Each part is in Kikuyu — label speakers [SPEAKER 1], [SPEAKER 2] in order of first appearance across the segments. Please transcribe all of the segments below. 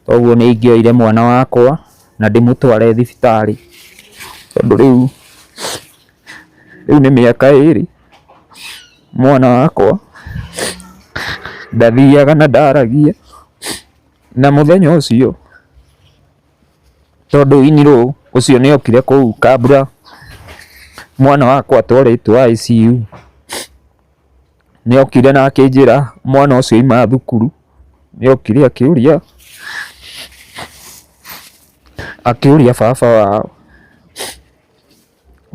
[SPEAKER 1] Koguo nĩ ingĩoire mwana wakwa na ndĩmũtware thibitarĩ tondũ rĩu, rĩu nĩ mĩaka ĩrĩ mwana wakwa ndathiaga na ndaragia. Na mũthenya ũcio tondũ Iniro ũcio nĩ okire kũu Kabra, mwana wakwa atwarĩtwo ICU. Nĩ okire na akĩnjĩra mwana ũcio aima thukuru, nĩ okire akĩũria, akĩũria baba wao,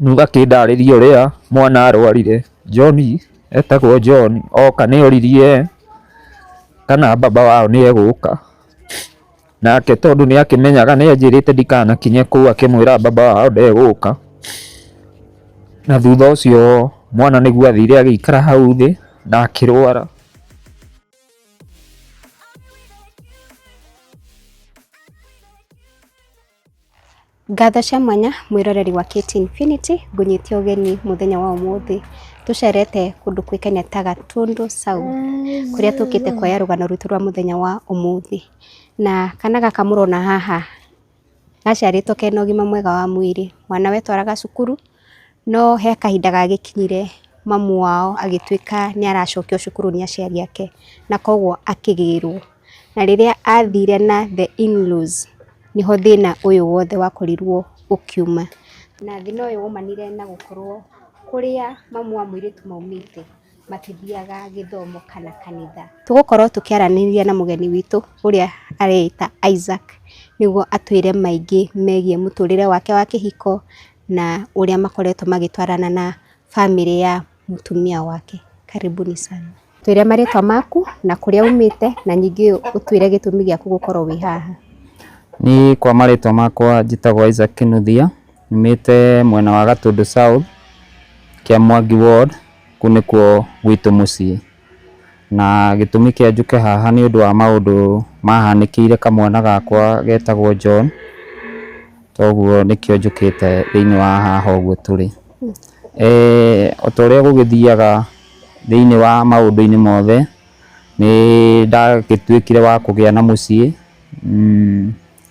[SPEAKER 1] rĩu akĩndarĩria ũrĩa mwana arwarire, John etagwo John oka nĩ oririe kana baba wao nĩ egũka. Nake tondũ nĩ akĩmenyaga nĩ anjĩrĩte ndikanakinye kũu akĩmwĩra baba wao ndegũka. Na thutha ũcio mwana nĩguo athire agĩikara hau thĩ na akĩrwara.
[SPEAKER 2] Ngatho cia mwanya mwĩroreri wa KT Infinity ngũnyĩtie ũgeni mũthenya wa ũmũthĩ tũcerete kũndũ kwĩkania ta Gatũndũ South kũrĩa tũkĩte kuoya rũgano rwitũ rwa mũthenya wa ũmũthĩ na kana gaka mũrona haha gaciarĩtwo kena ũgima mwega wa mwĩrĩ mwana wetwaraga cukuru no he kahinda gagĩkinyire mamu wao agĩtuĩka nĩ aracokio cukuru nĩ aciari ake na koguo akĩgĩrwo. Na rĩrĩa athire na the in laws nĩho thĩna ũyũ wothe wakorirwo ũkiuma. Na thĩna ũyũ waumanire na gũkorwo kũrĩa mamu wa mũirĩtu maumĩte matithiaga gĩthomo kana kanitha. Tũgũkorwo tũkĩaranĩria na mũgeni witũ ũrĩa areĩta Isaac nĩguo atwĩre maingĩ megiĩ mũtũrĩre wake wa kĩhiko na ũrĩa makoretwo magĩtwarana na bamĩrĩ ya mũtumia wake. Karibuni sana. Twĩre marĩtwa maku na kũrĩa umĩte na ningĩ ũtwĩre gĩtũmi gĩaku gũkorwo wĩ haha. Niĩ
[SPEAKER 1] kwa marĩtwa makwa njĩtagwo Isaac Kĩnuthia, nyumĩte mwena wa Gatũndũ South, Kĩamwangi Ward, kũu nĩkuo gwitũ mũciĩ. Na gĩtũmi kĩa njũke haha nĩ ũndũ wa maũndũ mahanĩkĩire kamwana gakwa getagwo John, toguo nĩkĩo njũkĩte thĩiniĩ wa haha ũguo tũrĩ. O ta ũrĩa gũgĩthiaga thĩiniĩ wa maũndũ-inĩ mothe, nĩ ndagĩtuĩkire wa kũgĩa na mũciĩ.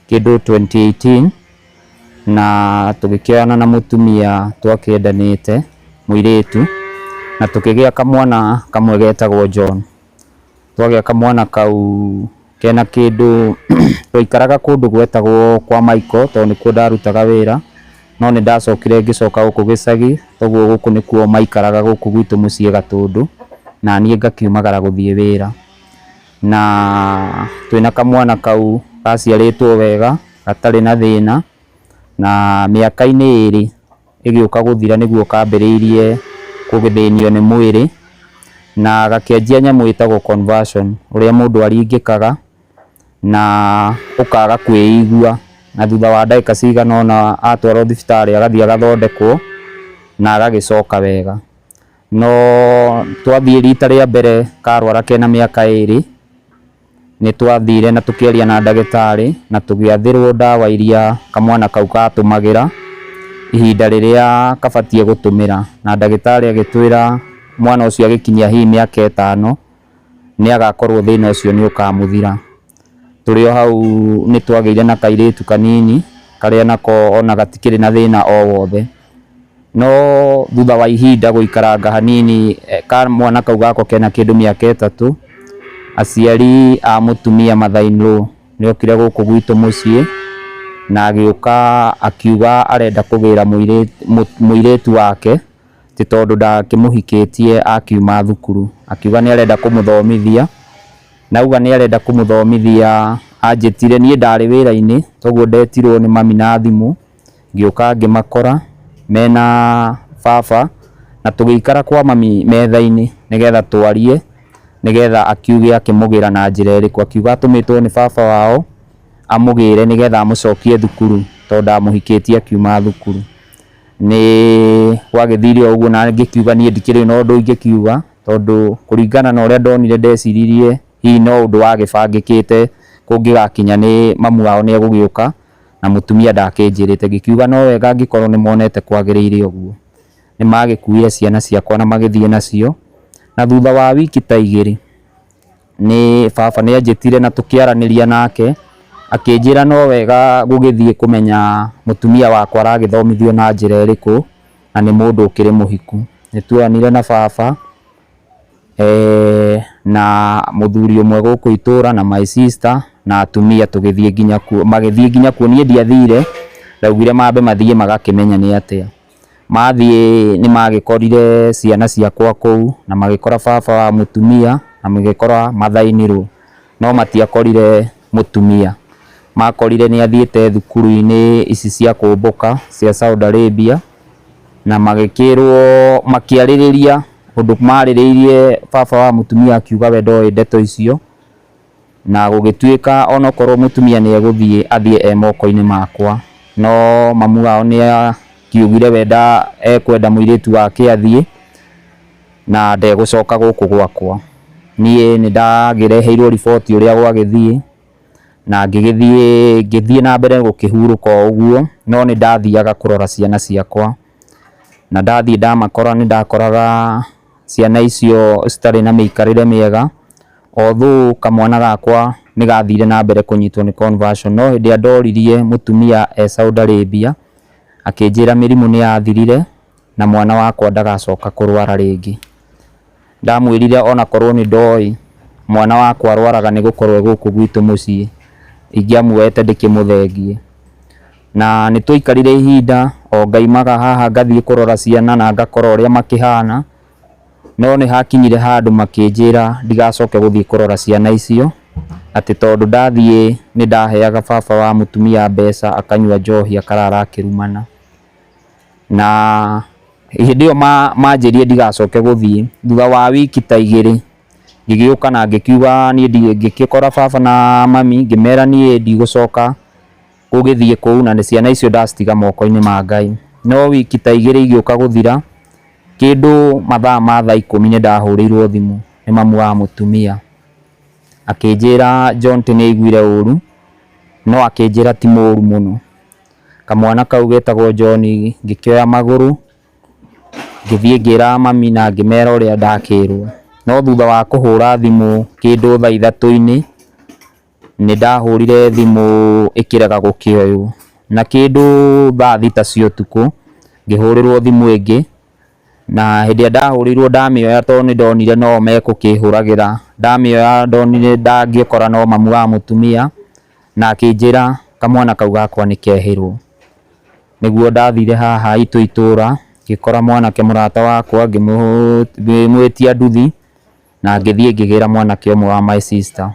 [SPEAKER 1] kĩndũ twenty eighteen na tũgĩkĩoyana na mũtumia twakĩendanĩte mũirĩtu na tũkĩgĩa kamwana kamwe getagwo John. Twagĩa kamwana kau kena kĩndũ twaikaraga kũndũ gwetagwo kwa Michael tondũ nĩkuo ndarutaga wĩra no nĩ ndacokire ngĩcoka gũkũ gĩcagi koguo gũkũ nĩkuo maikaraga gũkũ gwitũ mũciĩ Gatũndũ naniĩ ngakiumagara gũthiĩ wĩra. na twĩna kamwana kau gaciarĩtwo wega gatarĩ na thĩna, na mĩaka-inĩ ĩrĩ ĩgĩũka gũthira nĩguo kambĩrĩirie kũgĩthĩnio nĩ mwĩrĩ, na gakĩanjia nyamũ ĩtagwo conversion ũrĩa mũndũ aringĩkaga na ũkaga kwĩigua, na thutha wa ndagĩka cigana ũna atwarwo thibitarĩ agathiĩ agathondekwo na agagĩcoka wega. No twathiĩ rita rĩa mbere karwara kena mĩaka ĩrĩ, nĩ twathire na tũkĩaria na ndagĩtarĩ na tũgĩathĩrwo ndawa iria kamwana kau gatũmagĩra ihinda rĩrĩa kabatiĩ gũtũmĩra. Na ndagĩtarĩ agĩtwĩra mwana ũcio agĩkinyia hihi mĩaka ĩtano. nĩ agakorwo thĩna ũcio nĩ ũkamũthira. Tũrĩ o hau nĩ twagĩire na kairĩtu kanini karĩa nako ona gatikĩrĩ na thĩna o wothe. No thutha wa ihinda gũikaranga hanini kamwana kau gako kena kĩndũ mĩaka ĩtatũ, aciari a mũtumia mother in law nĩ okire gũkũ gwitũ mũciĩ na agĩũka akiuga arenda kũgĩra mũirĩtu wake. atĩ tondũ ndakĩmũhikĩtie akiuma thukuru, akiuga nĩ arenda kũmũthomithia, na auga nĩ arenda kũmũthomithia anjĩtire, niĩ ndarĩ wĩra-inĩ kwoguo ndetirwo nĩ mami na thimũ, ngĩũka ngĩmakora mena baba na tũgĩikara kwa mami metha-inĩ nĩgetha twarie, nĩgetha akiuge akĩmũgĩra na njĩra ĩrĩkũ, akiuga atũmĩtwo nĩ baba wao amũgĩre nĩgetha amũcokie thukuru tondũ ndamũhikĩtie akiuma thukuru. Nĩ gwagĩthire o ũguo na ngĩkiuga niĩ ndikĩrĩ na ũndũ ingĩkiuga, tondũ kũringana na ũrĩa ndonire ndeciririe hihi no ũndũ wagĩbangĩkĩte kũngĩgakinya nĩ mamu wao nĩ egũgĩũka, na mũtumia ndakĩnjĩrĩte. Ngĩkiuga no wega angĩkorwo nĩ monete kwagĩrĩire ũguo. Nĩ magĩkuire ciana ciakwa na magĩthiĩ nacio, na thutha wa wiki ta igĩrĩ, nĩ baba nĩ anjĩtire na tũkĩaranĩria nake, akĩnjĩra no wega gũgĩthiĩ kũmenya mũtumia wakwa aragĩthomithio na njĩra ĩrĩkũ, na nĩ mũndũ ũkĩrĩ mũhiku. Nĩ tweranire na baba, na mũthuri ũmwe gũkũ itũra na my sister na atumia tũgĩthiĩ nginya kuo, magĩthiĩ nginya kuo, niĩ ndiathire, ndaugire mambe mathiĩ magakĩmenya nĩ atĩa. Mathiĩ nĩ magĩkorire ciana ciakwa kũu, na magĩkora baba wa mũtumia, na magĩkora mathainĩrwo, no matiakorire mũtumia. Makorire nĩ athiĩte thukuru-inĩ ici cia kũmbũka cia Saudi Arabia, na magĩkĩrwo makĩarĩrĩria ũndũ marĩrĩirie baba wa mũtumia akiuga we ndoĩ ndeto icio. Na gũgĩtuĩka o na korwo mũtumia nĩ egũthiĩ, athiĩ e moko-inĩ makwa. No mamu wao nĩ akiugire we nda, ekwenda mũirĩtu wake athiĩ, na ndegũcoka gũkũ gwakwa. Niĩ nĩ ndagĩreheirwo riboti ũrĩa gwagĩthiĩ, na ngĩgĩthiĩ, ngĩthiĩ na mbere gũkĩhurũka o ũguo, no nĩ ndathiaga kũrora ciana ciakwa. Na ndathiĩ ndamakora nĩ ndakoraga ciana icio citarĩ na mĩikarĩre mĩega, although kamwana gakwa nĩ gathire na mbere kũnyitwo nĩ conversion, no hĩndĩ ĩrĩa ndoririe mũtumia e Saudi Arabia, akĩnjĩra mĩrimũ nĩ yathirire na mwana wakwa ndagacoka kũrwara rĩngĩ. Ndamwĩrire ona korwo nĩ ndoĩ mwana wakwa arwaraga nĩ gũkorwo e gũkũ gwitũ mũciĩ, ingĩamuoete ndĩkĩmũthengie. Na nĩ twaikarire ihinda o ngaimaga haha ngathiĩ kũrora ciana na ngakora ũrĩa makĩhana, no nĩ hakinyire handũ makĩnjĩra ndigacoke gũthiĩ kũrora ciana icio, atĩ tondũ ndathiĩ nĩ ndaheaga baba wa mũtumia mbeca akanyua njohi akarara akĩrumana. Na hĩndĩ ĩyo manjĩrire ndigacoke gũthiĩ, thutha wa wiki ta igĩrĩ ngĩgĩũka na ngĩkiuga niĩ ngĩkora baba na mami ngĩmera niĩ ndigũcoka. Gũgĩthiĩ kũu na ciana icio ndacitiga moko-inĩ ma Ngai. No wiki ta igĩrĩ igĩũka gũthira, kĩndũ mathaa ma thaa ikũmi nĩ ndahũrĩirwo thimũ nĩ mamu wa mũtumia. Akĩnjĩra John atĩ nĩ aiguire ũru, no akĩnjĩra ti mũru mũno. Kamwana kau getagwo John ngĩkoya magũrũ, ngĩthiĩ ngĩra mami na ngĩmera ũrĩa ndakĩrwo. No thutha wa kũhũra thimũ kĩndũ thaa ithatũ-inĩ, Nĩ ndahũrire thimũ ĩkĩrega gũkĩoywo, na kĩndũ thaa thita cia ũtukũ ngĩhũrĩrwo thimũ ĩngĩ, na hĩndĩ ĩrĩa ndahũrĩirwo ndamĩoya tondũ nĩ ndonire no o megũkĩhũragĩra, ndamĩoya ndonire ndangĩkora no mamu wa mũtumia, na akĩnjĩra kamwana kau gakwa nĩ kehĩrwo. Nĩguo ndathire haha haitũ itũra ngĩkora mwanake mũrata wakwa ngĩmwĩtia nduthi. na ngĩthiĩ ngĩgĩra mwanake ũmwe wa my sister.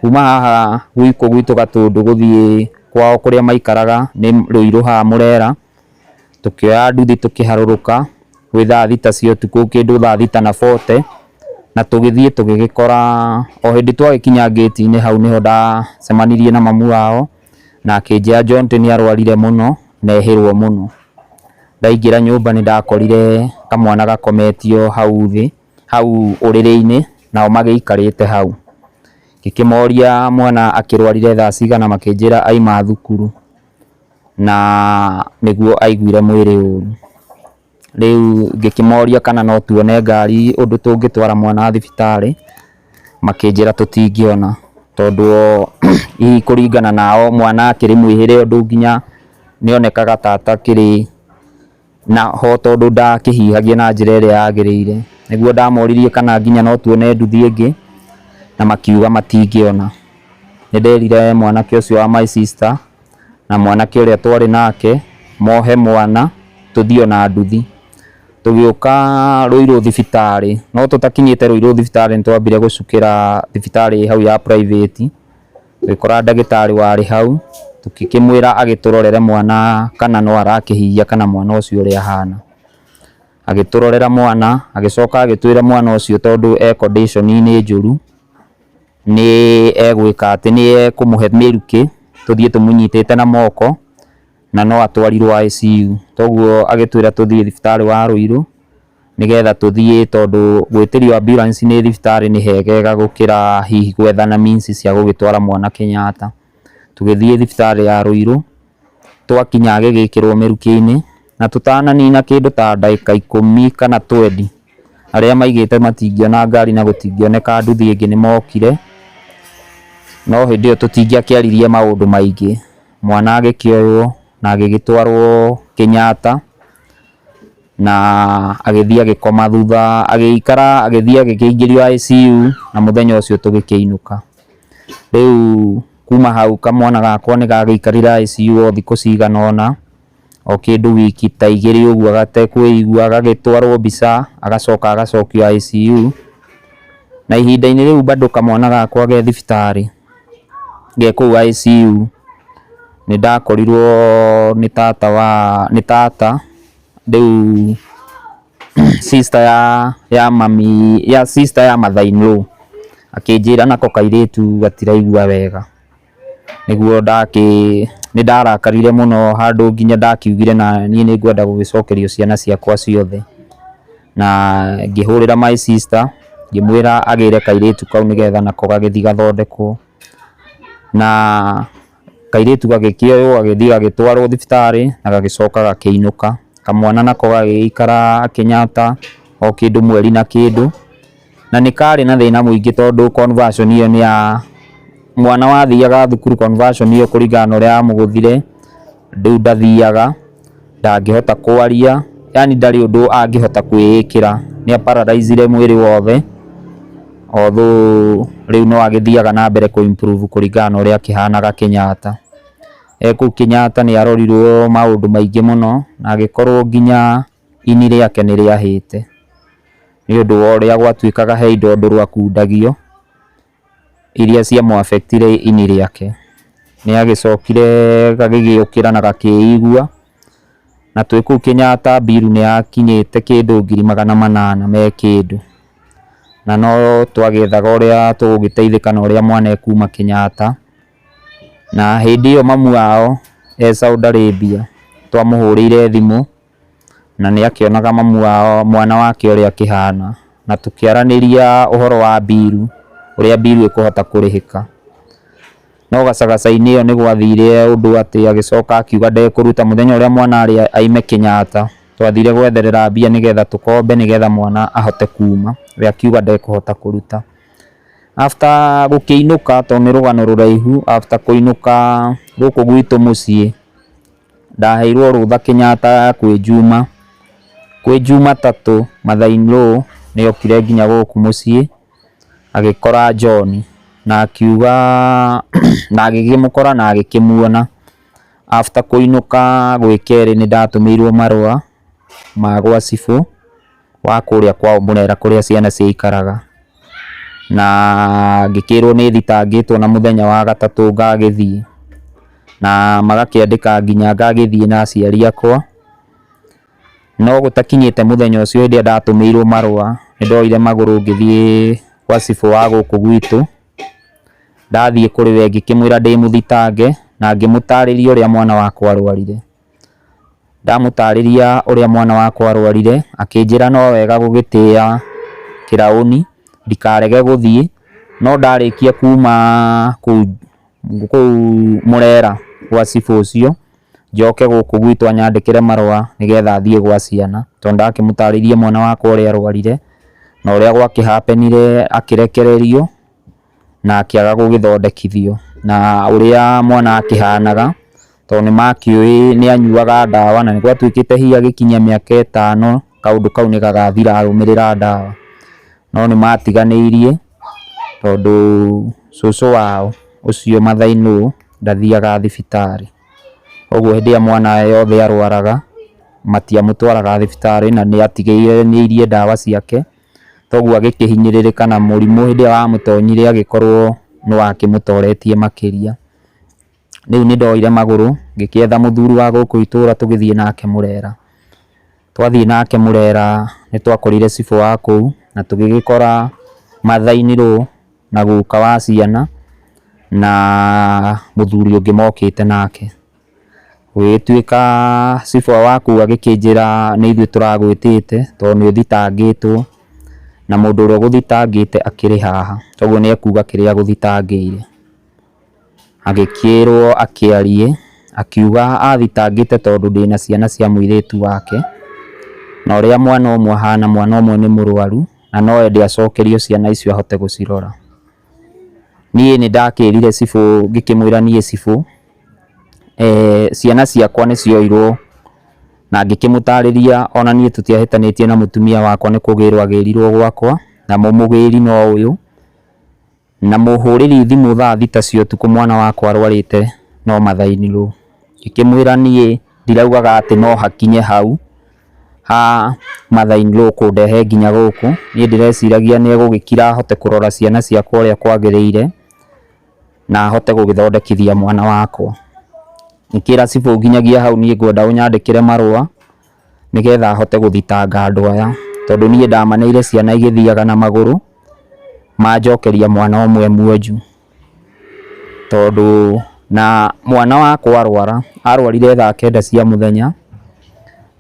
[SPEAKER 1] Kuma haha gwitũ gwitũ Gatũndũ gũthiĩ kwao kũrĩa maikaraga nĩ Rũirũ haha Mũrera, tũkĩoya nduthi tũkĩharũrũka gwĩ thaa thita cia ũtukũ kĩndũ thaa thita na bote, na tũgĩthiĩ tũgĩgĩkora, o hĩndĩ twagĩkinya ngĩti-inĩ hau nĩho ndacemanirie na mamu wao, na akĩnjĩra Jonte nĩ arwarire mũno na ehĩrwo mũno. Ndaingĩra nyũmba nĩ ndakorire kamwana gakometio hau thĩ. hau ũrĩrĩ-inĩ nao magĩikarĩte hau. Ngĩkĩmoria mwana akĩrwarire thaa cigana makĩnjĩra auma thukuru na nĩguo aiguire mwĩrĩ ũru. Rĩu ngĩkĩmoria kana no tuone ngari ũndũ tũngĩtwara mwana thibitarĩ, makĩnjĩra tũtingĩona tondũ o hihi kũringana nao mwana akĩrĩ mwĩhĩre ũndũ nginya nĩonekaga ta atakĩrĩ... Na ho tondũ ndakĩhihagia na njĩra ĩrĩa yagĩrĩire, nĩguo ndamoririe kana nginya no tuone nduthi ĩngĩ, na makiuga matingĩona. Nĩ nderire mwanake ũcio wa my sister, na mwanake ũrĩa twarĩ nake, mohe mwana, tũthiĩ ona nduthi. Tũgĩũka Rũirũ thibitarĩ, no tũtakinyĩte Rũirũ thibitarĩ nĩ twambire gũcukĩra thibitarĩ ĩĩ hau ya private, Tũgĩkora ndagĩtarĩ warĩ hau, tũkĩkĩmwĩra agĩtũrorere mwana kana no arakĩhihia kana mwana ũcio ũrĩa ahana. Agĩtũrorera mwana, agĩcoka agĩtwĩra mwana ũcio tondũ e condition -inĩ njũru, nĩ egwĩka atĩ, nĩ ekũmũhe mĩrukĩ, tũthiĩ tũmũnyitĩte na moko, na no atwarirwo ICU. Toguo agĩtwĩra tũthiĩ thibitarĩ wa Rũirũ, nĩgetha tũthiĩ tondũ gwĩtĩrio ambulance nĩ thibitarĩ nĩ hegega gũkĩra hihi gwethana means cia gũgĩtwara mwana Kenyatta. Tũgĩthiĩ thibitarĩ ya Ruiru, twakinya agĩgĩkĩrwo mĩrukĩ-inĩ, na tũtananina kĩndũ ta ndagĩka ikũmi kana twendi, arĩa maigĩte matingĩona ngari na gũtingĩoneka nduthi ĩngĩ nĩ mokire, no hĩndĩ ĩyo tũtingĩakĩaririe maũndũ maingĩ, mwana agĩkĩoywo na agĩgĩtwarwo Kenyatta. na agĩthiĩ agĩkoma thutha agĩikara agĩthiĩ agĩkĩingĩrio ICU na mũthenya ũcio tũgĩkĩinũka. Rĩu kuma hau kamwana gakwa nĩ gagĩikarire ICU o thikũ cigana ũna, o kĩndũ wiki ta igĩrĩ ũguo gatekwĩigua, gagĩtwarwo mbica agacoka agacokio ICU. Na ihinda-inĩ rĩu bado kamwana gakwa ge thibitarĩ. Ndĩ kũu ICU nĩ ndakorirwo nĩ tata wa, nĩ tata rĩu sister ya mami, sister ya mother in law akĩnjĩra nako kairĩtu gatiraigua wega. Nĩguo ndakĩ, nĩ ndarakarire mũno handũ nginya ndakiugire naniĩ nĩ ngwenda gũgĩcokerio ciana ciakwa ciothe. na ngĩhũrĩra my sister ngĩmwĩra agĩre kairĩtu kau nĩgetha nako gagĩthiĩ gathondekwo, na kairĩtu gagĩkĩoywo gagĩthiĩ gagĩtwarwo thibitarĩ na gagĩcoka gakĩinũka, kamwana nako gagĩgĩikara gakĩnyata o kĩndũ mweri na kĩndũ. na nĩ karĩ na thĩna mũingĩ tondũ conversion ĩyo nĩ ya mwana wathiaga thukuru conversion ĩyo kũringana na ũrĩa yamũgũthire, rĩu ndathiaga, ndangĩhota kwaria, yaani ndarĩ ũndũ angĩhota kwĩĩkĩra, nĩ a paralyze ire mwĩrĩ wothe, although rĩu no agĩthiaga na mbere kũ improve kũringana na ũrĩa akĩhanaga Kenyatta. E kũu Kenyatta nĩ arorirwo maũndũ maingĩ mũno na agĩkorwo nginya... Ini rĩake nĩ rĩahĩte nĩ ũndũ wa ũrĩa gwatuĩkaga he indo ũndũ rwakundagio iria cia mũ affect ire ini rĩake. Nĩ agĩcokire gagĩgĩũkĩra na gakĩigua na twĩ kũu Kenyatta bill nĩ yakinyĩte kĩndũ ngiri magana manana me kĩndũ. Na no twagĩethaga ũrĩa tũgũgĩteithĩka na ũrĩa mwana ekuma Kenyatta. Na hĩndĩ ĩyo mamu wao e Saudi Arabia twamũhũrĩire thimũ. na nĩ akĩonaga mamu wao, mwana wake ũrĩa akĩhana, na tũkĩaranĩria ũhoro wa bill, ũrĩa bill ĩkũhota kũrĩhĩka. No gacagaca-inĩ ĩyo nĩ gwathire ũndũ atĩ agĩcoka akiuga ndekũruta, mũthenya ũrĩa mwana arĩ aime Kenyatta, twathire gwetherera mbia nĩgetha tũkombe nĩgetha mwana ahote kuuma, we akiuga ndekũhota kũruta. After gũkĩinũka, tondũ nĩ rũgano rũraihu, after kũinũka gũkũ gwitũ mũciĩ. Ndaheirwo rũtha Kenyatta kwĩ Juma, kwĩ Juma tatũ mathaa in low nĩ okire nginya gũkũ mũciĩ agĩkora John na akiuga, na agĩkĩmũkora na agĩkĩmuona. After kũinũka gwĩ kerĩ nĩ ndatũmĩirwo marũa ma gwa cibũ wa kũrĩa kwao mũrera kũrĩa ciana ciaikaraga, na ngĩkĩrwo nĩ thitangĩtwo na mũthenya wa gatatũ ngagĩthiĩ, na magakĩandĩka nginya ngagĩthiĩ na aciari akwa, no gũtakinyĩte mũthenya ũcio hĩndĩ ĩrĩa ndatũmĩirwo marũa, nĩ ndoire magũrũ ngĩthiĩ gwa cibũ wa gũkũ gwitũ, ndathiĩ kũrĩ we ngĩkĩmwĩra ndĩmũthitange, na ngĩmũtarĩria ũrĩa mwana wakwa arwarire. Ndamũtarĩria ũrĩa mwana wakwa arwarire, akĩnjĩra no wega gũgĩtĩa kĩraũni ndikarege gũthiĩ, no ndarĩkia kuma kũu kũu mũrera gwa cibũ ũcio, njoke gũkũ gwitũ anyandĩkĩre marũa nĩgetha thiĩ gwa ciana, tondũ ndakĩmũtarĩirie mwana wakwa ũrĩa arwarire, na ũrĩa gwakĩhapenire akĩrekererio. na akĩaga gũgĩthondekithio, na ũrĩa mwana akĩhanaga tondũ nĩ makĩũĩ nĩ anyuaga ndawa na nĩ gwatuĩkĩte hihi agĩkinyia mĩaka ĩtano kaũndũ kau nĩ gagathira arũmĩrĩra ndawa, no nĩ matiganĩirie tondũ cũcũ wao ũcio Mathai No ndathiaga thibitarĩ, ũguo hĩndĩ ĩrĩa mwana wothe arwaraga matiamũtwaraga thibitarĩ na nĩ atigĩrĩire nĩ airia ndawa ciake. Toguo agĩkĩhinyĩrĩrĩka na mũrimũ hĩndĩ ĩrĩa wamũtonyire agĩkorwo nĩ wakĩmũtoretie makĩria. Rĩu nĩ ndoire magũrũ ngĩgĩetha mũthuri wa gũkũ itũra tũgĩthiĩ nake Mũrera. Twathiĩ nake Mũrera nĩ twakorire cibũ wa kũu na tũgĩgĩkora matha-inĩ rũũ na guka wa ciana na mũthuri ũngĩ mokĩte nake. Ũgĩtuĩka cibũ waku agĩkĩnjĩra nĩ ithuĩ tũragwĩtĩte tondũ nĩ ũthitangĩtwo, na mũndũ ũrĩa ũgũthitangĩte akĩrĩ haha, kwoguo nĩ ekuga kĩrĩa agũthitangĩire. Agĩkĩrwo akĩarie, akiuga athitangĩte tondũ ndĩna ciana cia mũirĩtu wake, na ũrĩa mwana ũmwe ahana, mwana ũmwe nĩ mũrwaru, na no ende acokerio ciana icio ahote gũcirora. Niĩ nĩ ndakĩrire cibũ ngĩkĩmwĩra niĩ cibũ, ciana ciakwa nĩ cioirwo na ngĩkĩmũtarĩria ona niĩ tũtiahĩtanĩtie na mũtumia wakwa nĩ kũgĩrwo agĩrirwo gwakwa, namo mũgĩri no ũyũ. Na mũhũrĩri thimũ thaa thita cia ũtukũ mwana wakwa arwarĩte no mathainirwo. Ngĩkĩmwĩra niĩ ndiraugaga atĩ no hakinye hau. haa mother in law kũndehe nginya gũkũ, niĩ ndĩreciragia nĩ egũgĩkira ahote kũrora ciana ciakwa ũrĩa kwagĩrĩire, na ahote gũgĩthondekithia mwana wakwa. Ingĩra cibũ nginyagia hau niĩ ngwenda ũnyandĩkĩre marũa, nĩgetha hote gũthitanga andũ aya, tondũ niĩ ndamaneire ciana igĩthiaga na magũrũ, manjokeria mwana ũmwe mwonju. Tondũ na mwana wakwa arwara, arwarire thaa kenda cia mũthenya,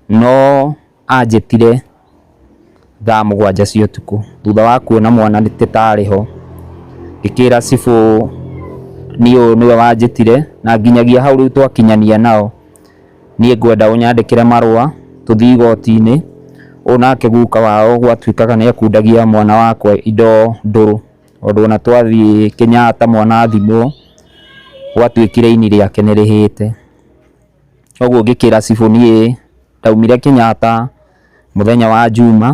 [SPEAKER 1] no anjĩtire thaa mũgwanja cia ũtukũ, thutha wa kuona mwana atĩ ndarĩ ho, ngĩkĩra cibũ niĩ ũyũ nĩwe wanjĩtire, na nginyagia hau rĩu twakinyania nao, niĩ ngwenda ũnyandĩkĩre marũa tũthiĩ igoti-inĩ, ũyũ nake guka wao gwatuĩkaga nĩ ekundagia mwana wakwa indo ndũrũ. Tondũ ona twathiĩ Kenyatta mwana athimwo gwatuĩkire ini rĩake nĩ rĩhĩte. Koguo ngĩkĩra cibũ niĩ ndaumire Kenyatta mũthenya wa njuma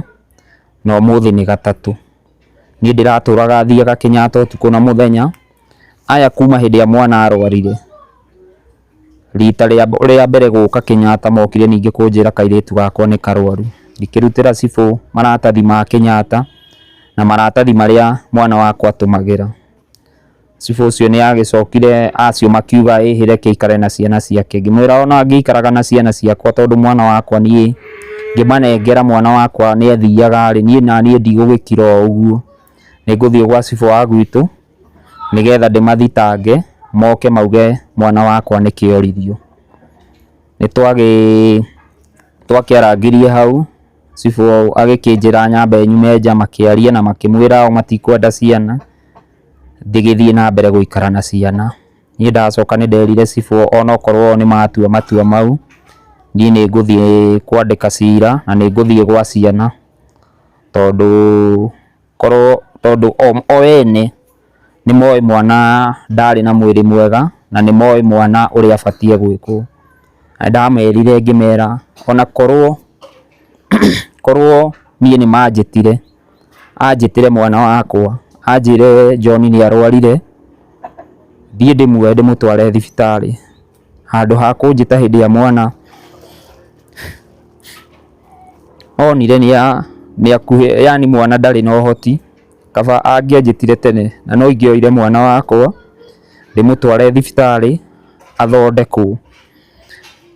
[SPEAKER 1] na ũmũthĩ nĩ gatatũ. Niĩ ndĩratũraga thiaga Kenyatta ũtukũ na mũthenya, aya kuma hĩndĩ ĩrĩa mwana arwarire. Rita rĩa mbere gũka Kenyatta mokire ningĩ kũnjĩra kairĩtu gakwa nĩ karwaru. Ngĩkĩrutĩra cibũ maratathi ma Kenyatta na maratathi marĩa mwana wakwa atũmagĩra. Cibũ ũcio nĩ agĩcokire acio makiuga ĩhĩ reke aikare na ciana ciake. Ngĩmwĩra ona angĩikaraga na ciana ciakwa tondũ mwana wakwa niĩ ngĩmanengera mwana wakwa nĩ athiaga rĩ, niĩ naniĩ ndigũgĩkira o ũguo. Nĩ ngũthiĩ gwa cibũ wa gwitũ. nĩgetha ndĩmathitange moke mauge mwana wakwa nĩ kĩĩ oririo. Nĩ twakĩarangirie hau cibũ agĩkĩnjĩra nyambe nyume nja makĩarie na makĩmwĩra o matikwenda ciana ngĩgĩthiĩ na mbere gũikara na ciana. Niĩ ndacoka nĩ nderire cibũ ona okorwo nĩ matua matua mau niĩ nĩ ngũthiĩ kwandĩka cira na nĩ ngũthiĩ gwa ciana tondũ Korwo tondũ o ene nĩ moĩ mwana ndarĩ na mwĩrĩ mwega, na nĩ moĩ mwana ũrĩa abatiĩ gwĩkwo. Na nĩ ndamerire ngĩmera ona korwo korwo niĩ nĩ manjĩtire, anjĩtĩre mwana wakwa, anjĩre John nĩ arwarire, thiĩ ndĩmuoe ndĩmũtware thibitarĩ. handũ ha kũnjĩta hĩndĩ ĩrĩa mwana onire nĩ akuhĩ yaani mwana ndarĩ na ũhoti, kaba angĩanjĩtire tene na no ingĩoire mwana wakwa ndĩmũtware thibitarĩ athondekwo,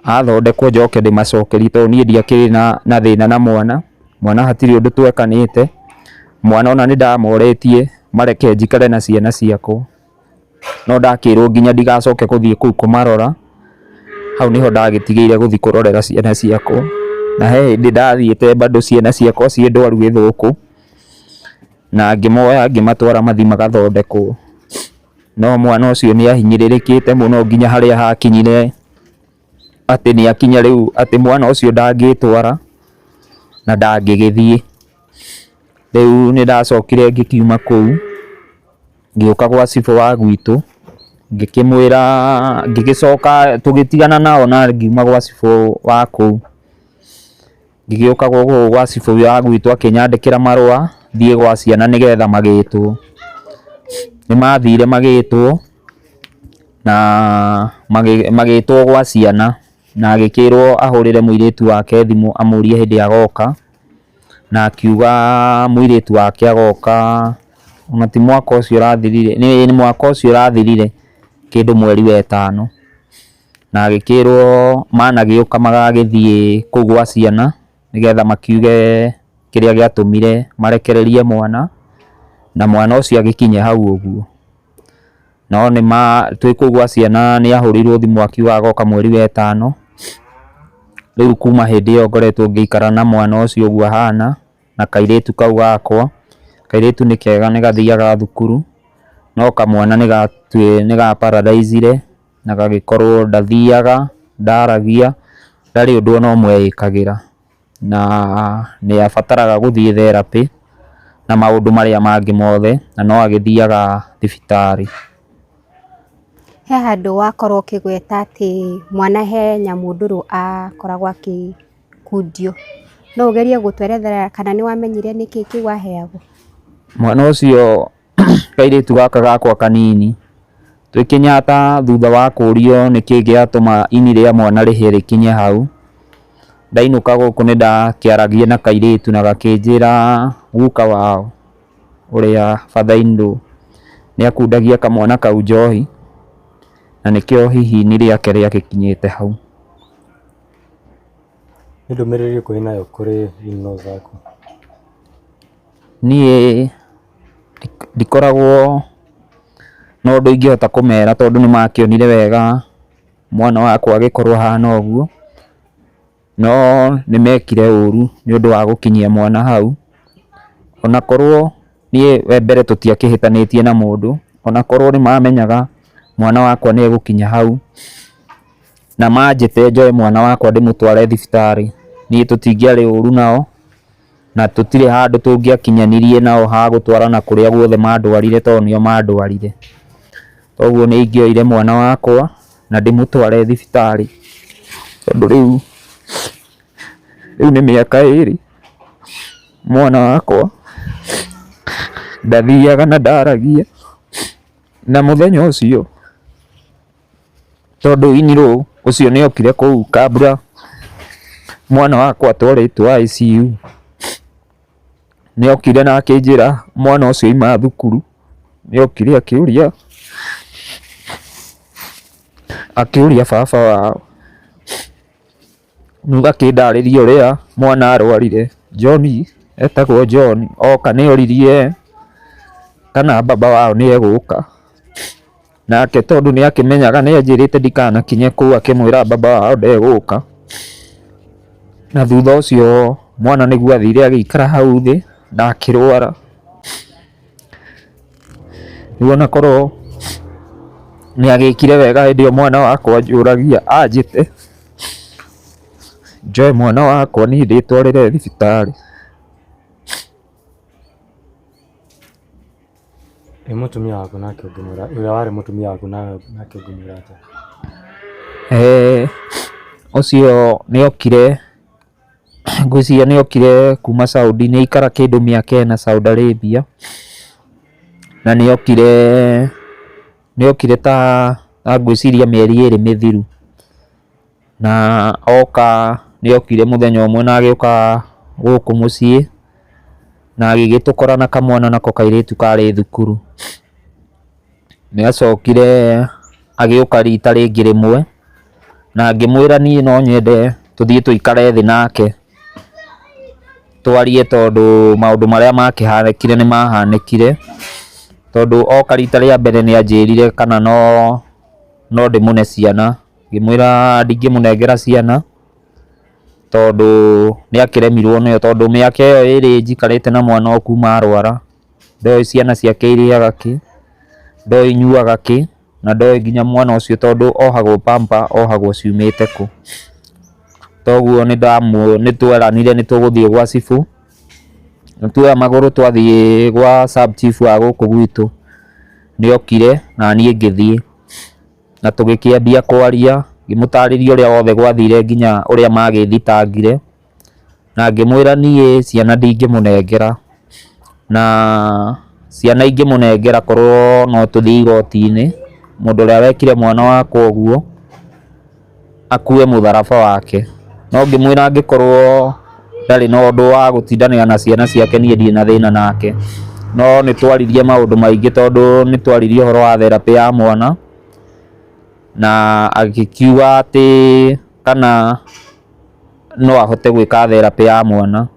[SPEAKER 1] athondekwo njoke ndĩmacokerie tondũ niĩ ndiakĩrĩ na thĩna na mwana, mwana hatirĩ ũndũ twekanĩte, mwana ona nĩ ndamoretie mareke njikare na ciana ciakwa. no ndakĩrwo nginya ndigacoke gũthiĩ kũu kũmarora, hau nĩho ndagĩtigĩire gũthiĩ kũrorera ciana ciakwa, na he hĩndĩ ndathiĩte bado ciana ciakwa ciĩ ndwaru gĩthũkũ, na ngĩmoya ngĩmatwara mathiĩ magathondekwo, no mwana ũcio nĩ ahinyĩrĩrĩkĩte mũno nginya harĩa hakinyire atĩ nĩ akinya rĩu atĩ mwana ũcio ndangĩtwara na ndangĩgĩthiĩ, rĩu nĩ ndacokire ngĩkiuma kũu. Ngĩũka gwa cibũ wa gwitũ, ngĩkĩmwĩra, ngĩgĩcoka, tũgĩtigana na o na ngiuma gwa cibũ wa kũu. Ngĩgĩũka gũkũ gwa cibũ wa gwitũ akĩnyandĩkĩra marũa thiĩ gwa ciana nĩ getha magĩtwo. Nĩ mathire magĩtwo na magĩtwo gwa ciana na agĩkĩrwo ahũrĩre mũirĩtu wake thimũ amũrie hĩndĩ agoka. na akiuga mũirĩtu wake agoka, ona ti mwaka ũcio ũrathirire, ĩĩ nĩ mwaka ũcio ũrathirire kĩndũ mweri wa ĩtano, na agĩkĩrwo managĩũka magagĩthiĩ kũu gwa ciana nĩgetha makiuge kĩrĩa gĩatũmire marekererie mwana, na mwana ũcio agĩkinye hau ũguo. no nĩma twĩ kũu gwa ciana nĩ ahũrĩirwo thimũ akiuga agoka mweri wetano, rĩu kuma hĩndĩ ĩyo ngoretwo ngĩikara na mwana ũcio ũguo ahana na kairĩtu kau gakwa, kairĩtu nĩ kega nĩ gathiaga thukuru no kamwana nĩ ga paralyze -ire na gagĩkorwo ndathiaga, ndaragia, ndarĩ ũndũ ona ũmwe ekagĩra. na nĩ abataraga gũthiĩ therapĩ na maũndũ marĩa mangĩ mothe na no agĩthiaga thibitarĩ.
[SPEAKER 2] He handũ wakorwo ũkĩgweta atĩ mwana he nyamũndũrũ akoragwo agĩkundio, no ũgerie gũtũerethera kana nĩ wamenyire nĩkĩ kĩu aheagwo? Mwana
[SPEAKER 1] ũcio kairĩtu gaka gakwa kanini, twĩ Kĩnyatta thutha wa kũrio nĩkĩĩ gĩatũma ini rĩa mwana rĩhĩe rĩkinye hau, ndainũka gũkũ nĩ ndakĩaragia na kairĩtu na gakĩnjĩra guka wao ũrĩa father in law nĩ akundagia kamwana kau njohi na nĩkĩo hihi ini rĩake rĩagĩkinyĩte hau.
[SPEAKER 3] Nĩ ndũmĩrĩri ĩrĩkũ wĩnayo kũrĩ in laws aku? Niĩ
[SPEAKER 1] ndikoragwo na ũndũ ingĩhota kũmera tondũ nĩ makĩonire wega mwana wakwa agĩkorwo ahana ũguo, no nĩ mekire ũru nĩ ũndũ wa gũkinyia mwana hau. Ona korwo niĩ we mbere tũtiakĩhĩtanĩtie na mũndũ, ona korwo nĩ mamenyaga mwana wakwa nĩ egũkinya hau, na manjĩte njoe mwana wakwa ndĩmũtware thibitarĩ, niĩ tũtingĩarĩ ũru nao. Na tũtirĩ handũ tũngĩakinyanirie nao ha gũtwarana kũrĩa guothe maandwarire tondũ nĩo maandwarire. Kwoguo nĩ ingĩoire mwana wakwa na ndĩmũtware thibitarĩ tondũ rĩu nĩ mĩaka ĩrĩ mwana wakwa ndathiaga na ndaragia. Na mũthenya ũcio Tondũ inirũ ũcio nĩ okire kũu kambura, mwana wakwa atwarĩtwo ICU, nĩ okire na akĩnjĩra mwana ũcio auma thukuru, nĩ okire akĩũria, akĩũria baba wao. Nuga kĩndarĩrie ũrĩa mwana arwarire. John etagwo John oka nĩ oririe kana baba wao nĩ egũka. Nake tondũ nĩ akĩmenyaga nĩ anjĩrĩte ndikanakinye kũu akĩmwĩra baba wao ndegũka. Na thutha ũcio mwana nĩguo athire agĩikara hau thĩ na akĩrwara. Rĩu ona korwo nĩ agĩkire wega hĩndĩ ĩyo mwana wakwa anjũragia anjĩte. Njoe mwana wakwa niĩ ndĩtwarĩre thibitarĩ.
[SPEAKER 3] Ĩ mũtumia waku nake ũngĩmwĩra ũrĩa warĩ mũtumia waku nake ũngĩmwĩra atĩa? Eh,
[SPEAKER 1] ũcio nĩ okire ngwĩciria nĩ okire kuma Saudi, nĩ aikara kĩndũ mĩaka ĩna Saudi Arabia, na nĩ okire... nĩokire ta ngwĩciria mĩeri ĩrĩ mĩthiru, na oka nĩokire mũthenya ũmwe na agĩũka gũkũ mũciĩ na agĩgĩtũkora na kamwana nako kairĩtu karĩ thukuru. Nĩacokire agĩũka rita rĩngĩ rĩmwe na ngĩmwĩra niĩ no nyende tũthiĩ tũikare thĩ nake. twarie tondũ maũndũ marĩa makĩhanĩkire nĩ mahanĩkire, tondũ oka rita rĩa mbere nĩ anjĩrire kana no no ndĩmũne ciana, ngĩmwĩra ndingĩmũnengera ciana, tondũ nĩ akĩremirwo nĩyo, tondũ mĩaka ĩyo ĩrĩ njikarĩte na mwana o kuma arwara, ndoĩ ciana ciake irĩaga kĩ, ndoĩ inyuaga kĩ. na ndoĩ nginya mwana ũcio tondũ ohagwo pamper ohagwo ciumĩte kũ. Toguo nĩ tweranire nĩ tũgũthiĩ gwa cibũ, na tuoya magũrũ twathiĩ gwa sub chief wa gũkũ gwitũ, nĩ okire na niĩ ngĩthiĩ na tũgĩkĩambia kwaria ngĩmũtarĩria ũrĩa wothe gwathire nginya ũrĩa magĩthitangire. na ngĩmwĩra niĩ ciana ndingĩmũnengera, na ciana ingĩmũnengera korwo no tũthiĩ igoti-inĩ, mũndũ ũrĩa wekire mwana wakwa ũguo akue mũtharaba wake. No ngĩmwĩra angĩkorwo ndarĩ na ũndũ wa gũtindanĩra na ciana ciake niĩ ndirĩ na thĩna nake. No nĩ twaririe maũndũ maingĩ tondũ nĩ twaririe ũhoro wa therapĩ ya mwana, na agĩkiuga atĩ kana... no ahote gwĩka therapĩ ya mwana.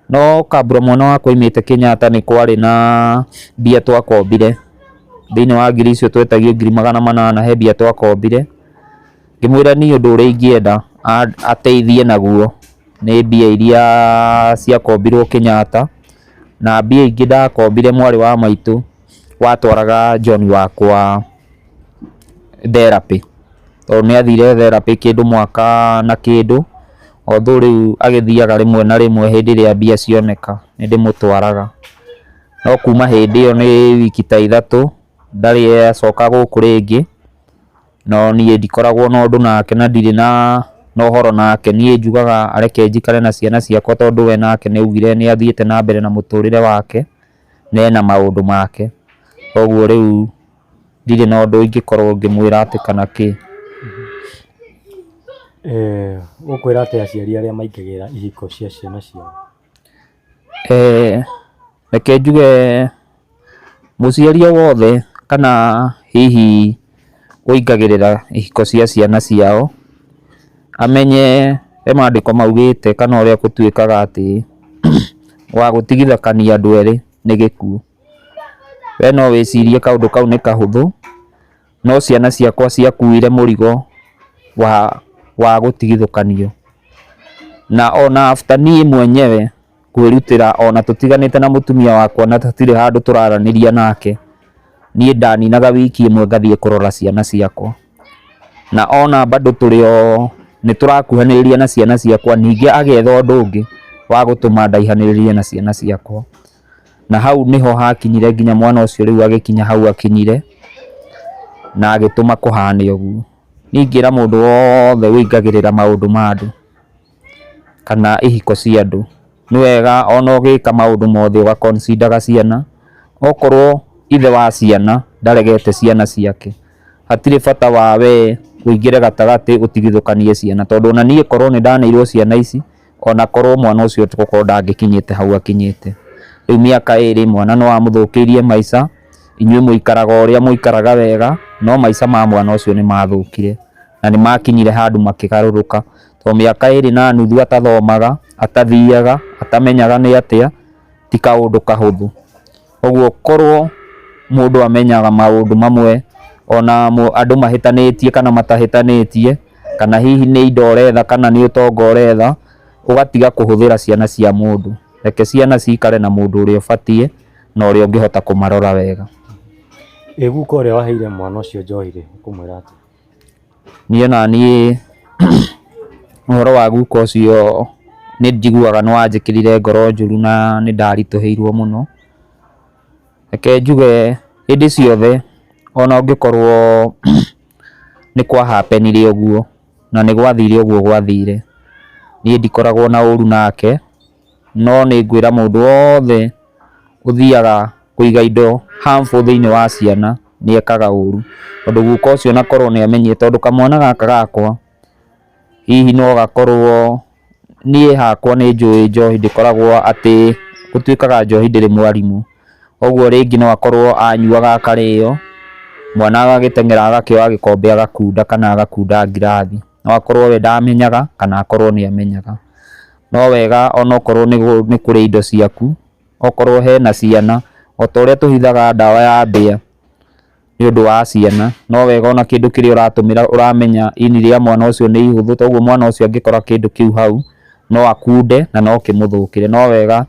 [SPEAKER 1] No kambũra mwana wakwa aumĩte Kenyatta nĩ kwarĩ na mbia twakombire, thĩiniĩ wa ngiri icio twetagio ngiri magana manana he mbia twakombire, ngĩmwĩra niĩ ũndũ ũrĩa ingĩenda ateithie naguo nĩ mbia iria ciakombirwo Kenyatta, na mbia ingĩ ndakombire mwarĩ wa maitũ watwaraga John wakwa. therapy, tondũ nĩ athire therapy kĩndũ mwaka na kĩndũ, although rĩu agĩthiaga rĩmwe na rĩmwe hĩndĩ ĩrĩa mbia cioneka nĩ ndĩmũtwaraga. No kuma hĩndĩ ĩyo nĩ wiki ta ithatũ ndarĩ acoka gũkũ rĩngĩ, no niĩ ndikoragwo na ũndũ nake na ndirĩ na ũhoro nake. Niĩ njugaga areke njikare na ciana ciakwa tondũ we nake nĩ augire nĩ athiĩte na mbere na mũtũrĩre wake na ena maũndũ make. Koguo rĩu Ndirĩ na ũndũ ingĩkorwo ngĩmwĩra atĩ kana kĩ.
[SPEAKER 3] Ũkwĩra atĩa aciari arĩa maingagĩrĩra ihiko cia ciana ciao?
[SPEAKER 1] Reke njuge mũciari o wothe kana hihi ũingagĩrĩra ihiko cia ciana ciao, amenye he mandĩko maugĩte kana ũrĩa gũtuĩkaga atĩ wa gũtigithũkania andũ erĩ nĩ gĩkuũ. We no wĩcirie kaũndũ kau nĩ kahũthũ, no ciana ciakwa ciakuire mũrigo wa wa gũtigithũkanio. Na ona after niĩ mwenyewe kwĩrutĩra ona tũtiganĩte na mũtumia wakwa na tũtirĩ handũ tũraranĩria nake, niĩ ndaninaga wiki ĩmwe ngathiĩ kũrora ciana ciakwa. Na ona bado tũrĩ o nĩ tũrakuhanĩrĩria na ciana ciakwa, ningĩ agetha ũndũ ũngĩ wa gũtũma ndaihanĩrĩrie na ciana ciakwa. na hau niho hakinyire nginya mwana ucio riu agikinya hau akinyire na agituma kuhane uguo ni ingira mundu wothe uingagirira maundu ma andu kana ihiko cia andu ni wega ona ugika maundu mothe uga consider ciana okorwo ithe wa ciana ndaregete ciana ciake hatire bata wa we uingire gatagati utigithukanie ciana tondu ona nie korwo nindaneirwo ciana ici ona korwo mwana ũcio tokorwo ndangĩkinyĩte hau akinyĩte. Rĩu mĩaka ĩrĩ mwana nĩ wamũthũkĩirie maica, inyuĩ mũikaraga ũrĩa mũikaraga wega, no maica ma mwana ũcio nĩ mathũkire na nĩ makinyire handũ makĩgarũrũka. To mĩaka ĩrĩ na nuthu atathomaga, atathiaga, atamenyaga nĩ atĩa, ti kaũndũ kahũthũ. Ũguo korwo mũndũ amenyaga maũndũ mamwe ona andũ mahĩtanĩtie kana matahĩtanĩtie, kana hihi nĩ indo ũretha kana nĩ ũtonga ũretha, ũgatiga kũhũthĩra ciana cia mũndũ. Reke ciana cikare na mũndũ ũrĩa ũbatiĩ na ũrĩa ũngĩhota kũmarora wega. Ĩ
[SPEAKER 3] guka ũrĩa waheire mwana ũcio njohi rĩ, ũkũmwĩra atĩa? Niĩ
[SPEAKER 1] onaniĩ ũhoro wa guka ũcio nĩ njiguaga nĩ wanjĩkĩrire ngoro njũru na nĩ ndaritũhĩirwo mũno. Reke njuge hĩndĩ ciothe ona ũngĩkorwo nĩ kwa happen ire ũguo na nĩ gwathire ũguo gwathire, niĩ ndikoragwo na ũru nake. no nĩ ngwĩra mũndũ wothe ũthiaga kũiga indo harmful thĩinĩ wa ciana nĩ ekaga ũru. Tondũ guka ũcio ona korwo nĩ amenyete, tondũ kamwana gaka gakwa hihi no gakorwo, niĩ hakwa nĩ njũĩ njohi ndĩkoragwo atĩ, gũtuĩkaga njohi ndĩrĩ mwarimũ. Ũguo rĩngĩ no akorwo anyuaga akarĩo, mwana agagĩteng'era agakĩoya gĩkombe agakunda kana agakunda ngirathi. No akorwo we ndamenyaga kana akorwo nĩ amenyaga. no wega onokorwo nĩ kũrĩ indo ciaku, okorwo hena ciana, o ta ũrĩa tũhithaga ndawa ya mbĩa nĩ ũndũ wa ciana, no wega ona kĩndũ kĩrĩa ũratũmĩra ũramenya ini rĩa mwana ũcio nĩ ihũthũ, toguo mwana ũcio angĩkora kĩndũ kĩu hau, no akunde na no kĩmũthũkĩre. No wega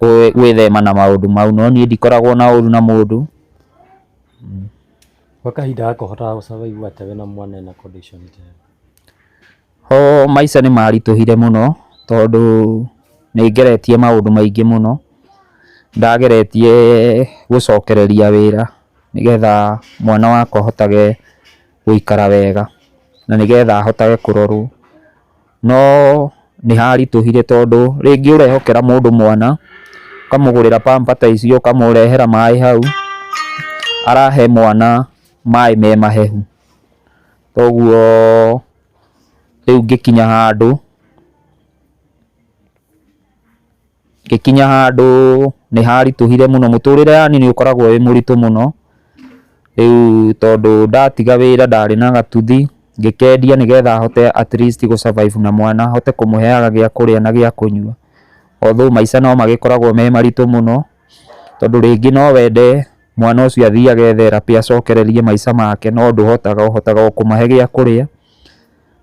[SPEAKER 1] gwĩthema na maũndũ mau, no niĩ ndikoragwo na ũru na mũndũ. Ho maica nĩ maritũhire mũno tondũ nĩ ngeretie maũndũ maingĩ mũno, ndageretie gũcokereria wĩra nĩgetha mwana wakwa ahotage gũikara wega na nĩgetha ahotage kũrorwo, no nĩ haritũhire tondũ rĩngĩ ũrehokera mũndũ mwana, ũkamũgũrĩra pamper ta icio, ũkamũrehera maĩ hau, arahe mwana maĩ me mahehu. Koguo rĩu ngĩkinya handũ, ngĩkinya handũ nĩ haritũhire mũno, mũtũrĩre yani nĩ ũkoragwo wĩ mũritũ mũno, rĩu tondũ ndatiga wĩra ndarĩ na gatuthi, ngĩkendia nĩgetha hote at least gũ survive na mwana, hote kũmũheaga gĩa kũrĩa na gĩa kũnyua, although maica no magĩkoragwo me maritũ mũno. Tondũ rĩngĩ no wende mwana ũcio athiĩ agethe therapĩ acokererie maica make no ndũhotaga, ũhotaga o kũmahe gĩa kũrĩa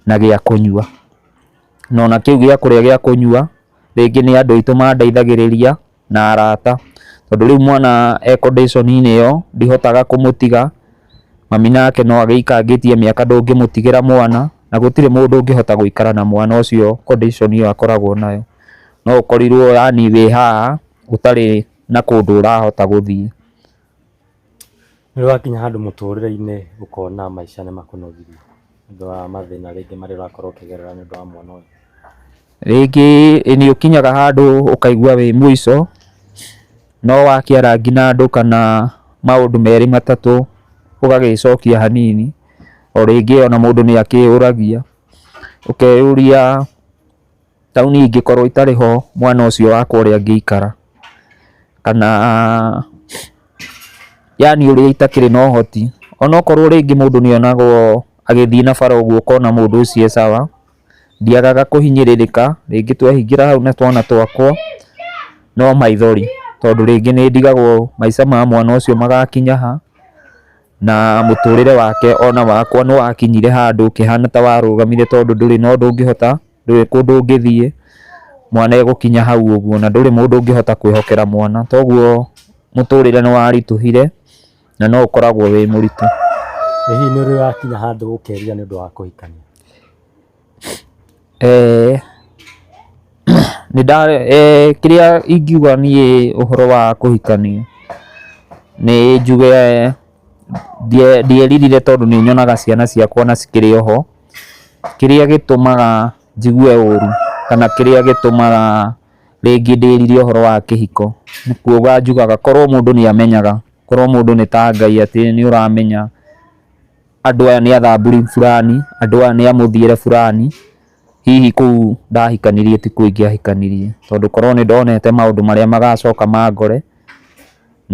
[SPEAKER 1] na gĩa kũnyua. Na ona kĩu gĩa kũrĩa gĩa kũnyua rĩngĩ nĩ andũ aitũ mandeithagĩrĩria na arata. Tondũ rĩu mwana e condition inĩ ĩyo ndihotaga kũmũtiga, mami nake no agĩikangĩtie mĩaka ndũngĩmũtigĩra mwana, na gũtirĩ mũndũ ũngĩhota gũikara na mwana ũcio condition ĩyo akoragwo nayo. No ũkorirwo yaani wĩ haha gũtarĩ na kũndũ ũrahota gũthiĩ.
[SPEAKER 3] Nĩ wakinya handũ mũtũrĩre-inĩ ũkona maica nĩ makũnogirie nĩ ũndũ wa mathĩna rĩngĩ marĩa ũrakorwo ũkĩgerera nĩ ũndũ wa mwana ũyũ? Rĩngĩ
[SPEAKER 1] nĩ ũkinyaga handũ ũkaigua wĩ mũico, no wakĩara ngi na andũ kana maũndũ merĩ matatũ ũgagĩcokia hanini. O rĩngĩ ona mũndũ nĩ akĩyũragia, ũkeyũria... Taũni ingĩkorwo itarĩ ho mwana ũcio wakwa ũrĩa angĩikara, kana yaani ũrĩa itakĩrĩ na ũhoti. Onokorwo rĩngĩ mũndũ nĩonagwo agĩthiĩ na bara ũguo ũkona mũndũ ũcio e sawa, ndiagaga kũhinyĩrĩrĩka, rĩngĩ twehingĩra hau na twana twakwa, no maithori, tondũ rĩngĩ nĩndigagwo maica ma mwana ũcio magakinya ha, na mũtũrĩre wake ona wakwa nĩwakinyire handũ ũkĩhana ta warũgamire tondũ ndũrĩ na ũndũ ũngĩhota. ndũĩ kũndũ ũngĩthiĩ, mwana egũkinya hau ũguo na ndũrĩ mũndũ ũngĩhota kwĩhokera mwana. Toguo mũtũrĩre nĩ waritũhire na no ũkoragwo wĩ mũritũ. Ĩ hihi nĩ
[SPEAKER 3] ũrĩ wakinya handũ ũkeerirĩria nĩ ũndũ wa kũhikania? Eeh
[SPEAKER 1] nĩ nda eeh kĩrĩa ingiuga niĩ ũhoro wa kũhikania, nĩ njuge ndieririre tondũ nĩ nyonaga ciana ciakwa ona cikĩrĩ o ho. Kĩrĩa gĩtũmaga njigue ũru kana kĩrĩa gĩtũmaga rĩngĩ ndĩrire ũhoro wa kĩhiko, nĩ kuga njugaga korwo mũndũ nĩ amenyaga, korwo mũndũ nĩ ta Ngai atĩ nĩ ũramenya andũ aya nĩ athamburu burani, andũ aya nĩ a mũthiĩre burani, hihi kũu ndahikanirie ti kuo ingĩahikanirie. Tondũ korwo nĩ ndonete maũndũ marĩa magacoka mangore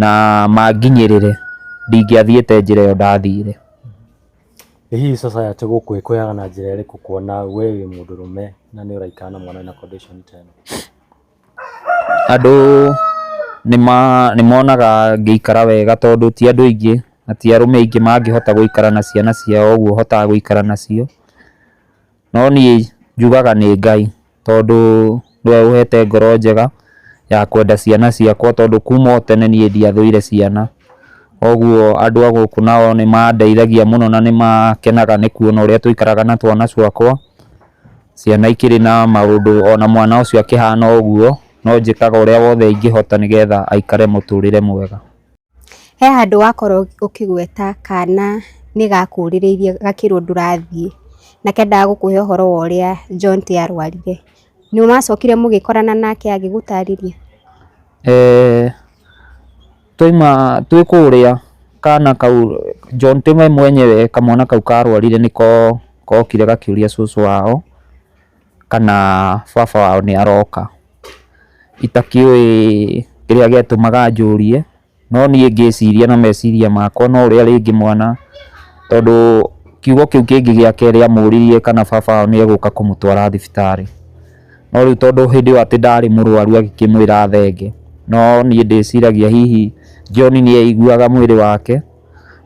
[SPEAKER 1] na manginyĩrĩre, ndingĩathiĩte njĩra ĩyo ndathire.
[SPEAKER 3] Ĩ hihi society gũkũ ĩkũheaga na njĩra ĩrĩkũ kuona we wĩ mũndũrũme na nĩ ũraikara na mwana wĩna condition ta ĩno? Andũ
[SPEAKER 1] nĩ monaga ngĩikara wega tondũ ti andũ aingĩ na ti arũme aingĩ mangĩhota gũikara na ciana ciao ũguo hotaga gũikara nacio. No niĩ njugaga nĩ Ngai tondũ nĩwe ũhete ngoro njega ya kwenda ciana ciakwa tondũ kuma o tene niĩ ndiathũire ciana. Koguo andũ a gũkũ nao nĩ mandeithagia mũno na nĩ makenaga nĩ kuona ũrĩa tũikaraga na twana twakwa. Ciana ikĩrĩ na maũndũ ona mwana ũcio akĩhana ũguo, no njĩkaga ũrĩa wothe ingĩhota nĩgetha aikare mũtũrĩre mwega. He
[SPEAKER 2] handũ wakorwo ũkĩgweta kana nĩ gakũrĩrĩirie gakĩrwo ndũrathiĩ, na kendaga gũkũhe ũhoro wa ũrĩa Jonte arwarire. Nĩ wacokire mũgĩkorana nake agĩgũtarĩria? Eeh
[SPEAKER 1] twaima twĩ kũrĩa kana kau Jonte we mwenyewe kamwana kau karwarire nĩko kokire gakĩũria cũcũ wao. kana baba wao nĩ aroka. Itakĩũĩ kĩrĩa gĩatũmaga anjũrie, no niĩ ngĩciria na meciria makwa no ũrĩa rĩngĩ mwana, tondũ kiugo kĩu kĩngĩ gĩa kerĩ amũririe kana baba wao nĩ egũka kũmũtwara thibitarĩ. No rĩu tondũ hĩndĩ ĩyo atĩ ndarĩ mũrwaru agĩkĩmwĩra athenge, no niĩ ndĩciragia hihi John nĩ aiguaga mwĩrĩ wake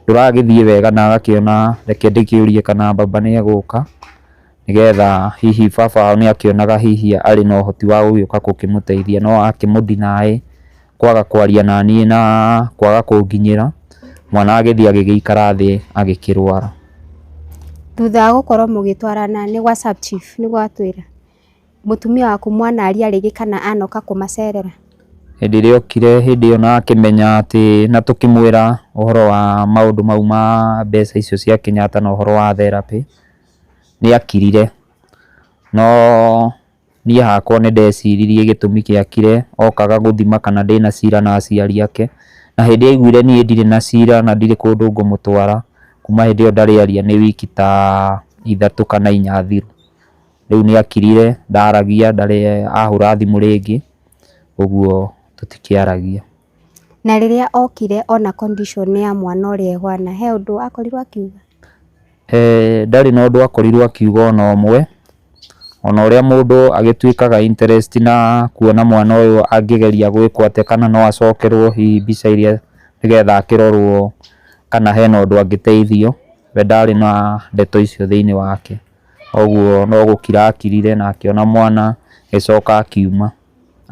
[SPEAKER 1] ndũragĩthiĩ wega na agakĩona reke ndĩkĩũrie kana baba nĩ egũka. nĩgetha hihi baba wao nĩ akĩonaga hihi arĩ na ũhoti wa gũgĩũka gũkĩmũteithia no akĩmũ deny kwaga kwaria na niĩ na kwaga kũnginyĩra, mwana agĩthiĩ agĩgĩikara thĩ agĩkĩrwara.
[SPEAKER 2] Thutha wa gũkorwo mũgĩtwarana nĩ gwa sub chief nĩguo atwĩra? Mũtumia waku mwanaria rĩngĩ kana anoka kũmacerera? Hĩndĩ ĩrĩa
[SPEAKER 1] okire hĩndĩ ĩyo na akĩmenya atĩ na tũkĩmwĩra ũhoro wa maũndũ mau ma mbeca icio cia Kenyatta na ũhoro wa therapĩ, nĩakirire, no niĩ hakwa nĩndeciririe gĩtũmi gĩakire, okaga gũthima kana ndĩna cira na aciari ake, na hĩndĩ aiguire niĩ ndirĩ na cira na ndirĩ kũndũ ngũmũtwara, kuma hĩndĩ ĩyo ndarĩ aria nĩ wiki ta ithatũ kana inya thiru, rĩu nĩakirire, ndaragia, ndarĩ ahũra thimũ rĩngĩ, ũguo tũtikĩaragia. Na
[SPEAKER 2] rĩrĩa okire ona condition ya mwana ũrĩa ehana, he ũndũ akorirwo akiuga?
[SPEAKER 1] Ndarĩ na ũndũ akorirwo akiuga ona ũmwe, ona ũrĩa mũndũ agĩtuĩkaga interest na kuona mwana ũyũ angĩgeria gwĩkwo atĩa kana no acokerwo hihi mbica ĩrĩa nĩgetha akĩrorwo kana hena ũndũ angĩteithio, we ndarĩ na ndeto icio thĩiniĩ wake. Koguo no gũkira akirire na akĩona mwana agĩcoka akiuma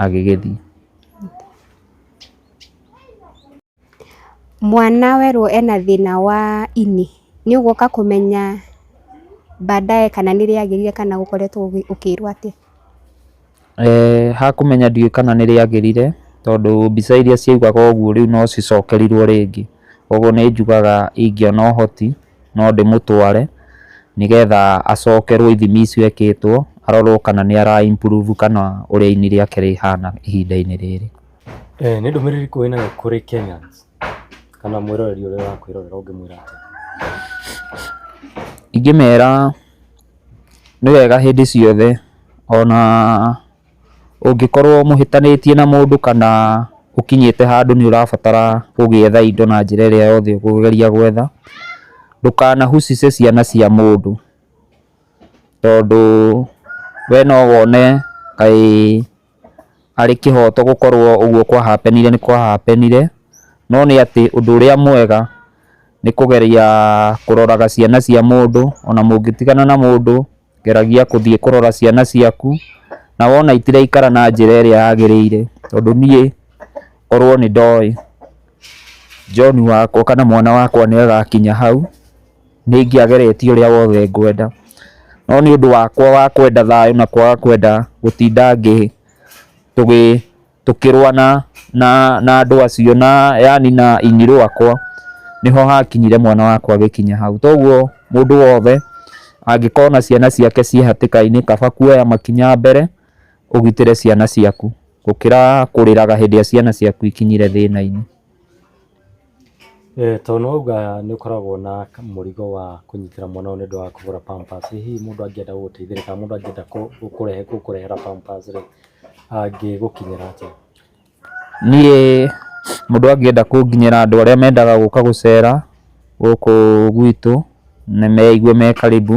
[SPEAKER 1] agĩgĩthiĩ.
[SPEAKER 2] Mwana werwo ena thĩna wa ini, nĩ ũgũka kũmenya baadaye kana nĩ rĩagĩrire kana ũkoretwo ũkĩrwo
[SPEAKER 1] atĩa?
[SPEAKER 2] Ha
[SPEAKER 1] kũmenya ndiũĩ kana
[SPEAKER 2] nĩ rĩagĩrire
[SPEAKER 1] tondũ mbica iria ciaugaga ũguo rĩu no cicokerirwo rĩngĩ. Koguo nĩ njugaga ingĩona ũhoti no ndĩmũtware nĩgetha acokerwo ithimi icio ekĩtwo arorwo kana nĩ ara improve kana ũrĩa ini rĩake rĩhana ihinda-inĩ rĩrĩ. Eh, nä ndå mä
[SPEAKER 3] rä ri kå wä nayo kå rä kenyans kana mwä roreri å rä a wakwä rorera å ngä mwä ra atä
[SPEAKER 1] ingĩmera nĩ wega hĩndĩ ciothe ona ũngĩkorwo mũhĩtanĩtie na mũndũ kana ũkinyĩte handũ nĩ ũrabatara gũgĩetha indo na njĩra ĩrĩa yothe ũkũgeria gwetha, ndũkanahucice ciana cia mũndũ tondũ we no wone kaĩ... arĩ kĩhoto gũkorwo ũguo kwa happenire nĩ kwa happenire, no nĩ atĩ ũndũ ũrĩa mwega nĩ kũgeria kũroraga ciana cia mũndũ, ona mũngĩtigana na mũndũ geragia gũthiĩ kũrora ciana ciaku, na wona itiraikara na njĩra ĩrĩa yagĩrĩire, tondũ niĩ korwo nĩ ndoĩ John wakwa kana mwana wakwa nĩ agakinya hau. nĩ ingĩageretie ũrĩa wothe ngwenda, no nĩ ũndũ wakwa wa kwenda thayũ na kwaga kwenda gũtinda tũkĩrũa na andũ acio na yaani na ini rĩakwa, nĩho hakinyire mwana wakwa agĩkinya hau. Toguo mũndũ wothe angĩkorwo na ciana ciake ciĩ hatĩka-inĩ kaba kuoya makinya mbere ũgitĩre ciana ciaku gũkĩra kũrĩraga hĩndĩ ĩrĩa ciana ciaku ikinyire thĩna-inĩ.
[SPEAKER 3] Tondũ nĩ wauga nĩ ũkoragwo na mũrigo wa kũnyitĩra mwana ũyũ nĩ ũndũ wa kũgũra pampers, ĩ hihi mũndũ angĩenda gũgũteithĩrĩria kana mũndũ angĩenda gũkũrehera pampers rĩ, angĩgũkinyĩra atĩa? Niĩ
[SPEAKER 1] mũndũ angĩenda kũnginyĩra andũ arĩa mendaga gũka gũcera gũkũ gwitũ na meigue me karibu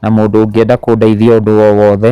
[SPEAKER 1] na mũndũ ũngĩenda kũndeithia ũndũ o wothe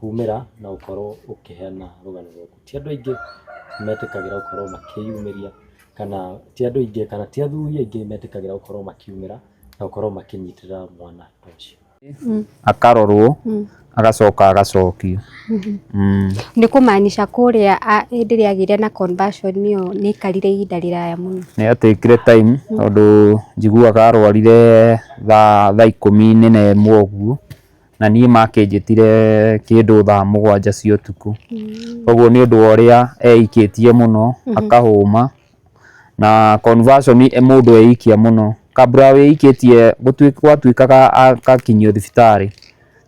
[SPEAKER 3] kumĩra na gũkorwo ũkĩheana rũgano rwaku. Ti andũ aingĩ metĩkagĩra gũkorwo makĩyumĩria kana ti andũ aingĩ kana ti athuri aingĩ metĩkagĩra gũkorwo makiumĩra na gũkorwo makĩnyitĩrĩra mwana ta ũcio. Akarorwo
[SPEAKER 1] agacoka agacokio.
[SPEAKER 2] Nĩ kũmaanisha kũrĩa hĩndĩ ĩrĩa agĩire na conversion ĩyo nĩ aikarire ihinda rĩraya mũno. Nĩ ya take ire time
[SPEAKER 1] tondũ njiguaga arwarire thaa ikũmi na ĩmwe ũguo na niĩ makĩnjĩtire kĩndũ thaa mũgwanja cia ũtukũ koguo nĩ ũndũ wa ũrĩa eikĩtie mũno akahũma na conversion ĩ mũndũ eikia mũno kabla wĩikĩtie gũtui- gwatuĩkaga agakinyio thibitarĩ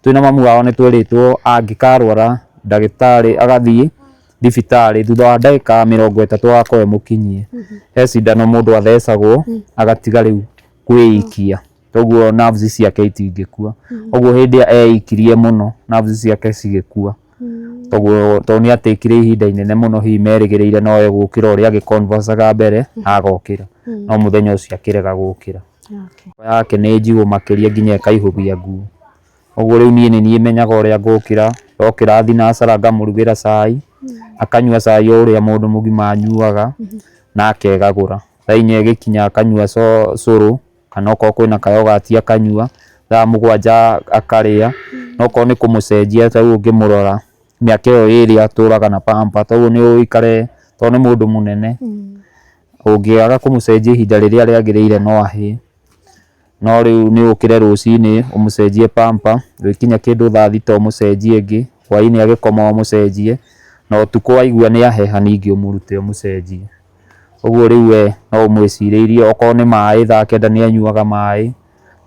[SPEAKER 1] twĩ na mamu wao nĩ twerĩtwo angĩkarwara ndagĩtarĩ agathiĩ thibitarĩ thutha wa ndagĩka mĩrongo ĩtatũ agakorwo e mũkinyie he cindano mũndũ athecagwo agatiga rĩu kwĩikia. toguo nerves ciake itingĩkua ũguo hĩndĩ ĩrĩa eikirie mũno nerves ciake cigĩkua toguo tondũ nĩ atĩkire ihinda inene mũno hihi merĩgĩrĩire no egũkĩra ũrĩa agĩconversaga mbere na agokĩra no mũthenya ũcio akĩrega gũkĩra Okay. Ngoro yake nĩ njigũ makĩria nginya ĩkaihũgia nguo ũguo rĩu niĩ nĩ niĩ menyaga ũrĩa ngũkĩra ndokĩra thinacara ngamũrugĩra cai akanyua cai o ũrĩa mũndũ mũgima anyuaga na akegagũra thaa inya ĩgĩkinya akanyua co- cũrũ kana okorwo kwĩna kayogati akanyua, thaa mũgwanja akarĩa, na okorwo nĩ kũmũcenjia ta rĩu ũngĩmũrora mĩaka ĩyo ĩrĩ atũraga na pamper toguo nĩ ũikare to nĩ mũndũ mũnene, ũngĩaga kũmũcenjia ihinda rĩrĩa rĩagĩrĩire no ahĩe, no rĩu nĩ ũkĩre rũcinĩ ũmũcenjie pamper, gũgĩkinya kĩndũ thaa thita ũmũcenjie ĩngĩ, hwainĩ agĩkoma ũmũcenjie, na ũtukũ waigua nĩ aheha ningĩ ũmũrute ũmũcenjie. Ũguo rĩu we no ũmwĩcirĩirie okorwo nĩ maĩ thaa kenda nĩ anyuaga maĩ,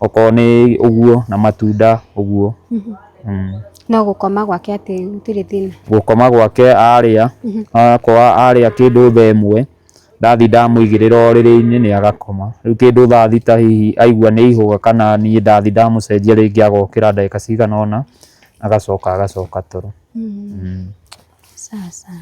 [SPEAKER 1] okorwo nĩ ũguo na matunda ũguo.
[SPEAKER 2] No gũkoma gwake atĩ gũtirĩ thĩna? Gũkoma gwake arĩa,
[SPEAKER 1] akorwo arĩa kĩndũ thaa ĩmwe, ndathiĩ ndamũigĩrĩra ũrĩrĩ-inĩ nĩ agakoma. Rĩu kĩndũ thaa thita hihi aigua nĩ ihũga kana niĩ ndathiĩ ndamũcenjia rĩngĩ agokĩra ndagĩka cigana ũna agacoka
[SPEAKER 2] agacoka
[SPEAKER 1] toro. Sawa sawa.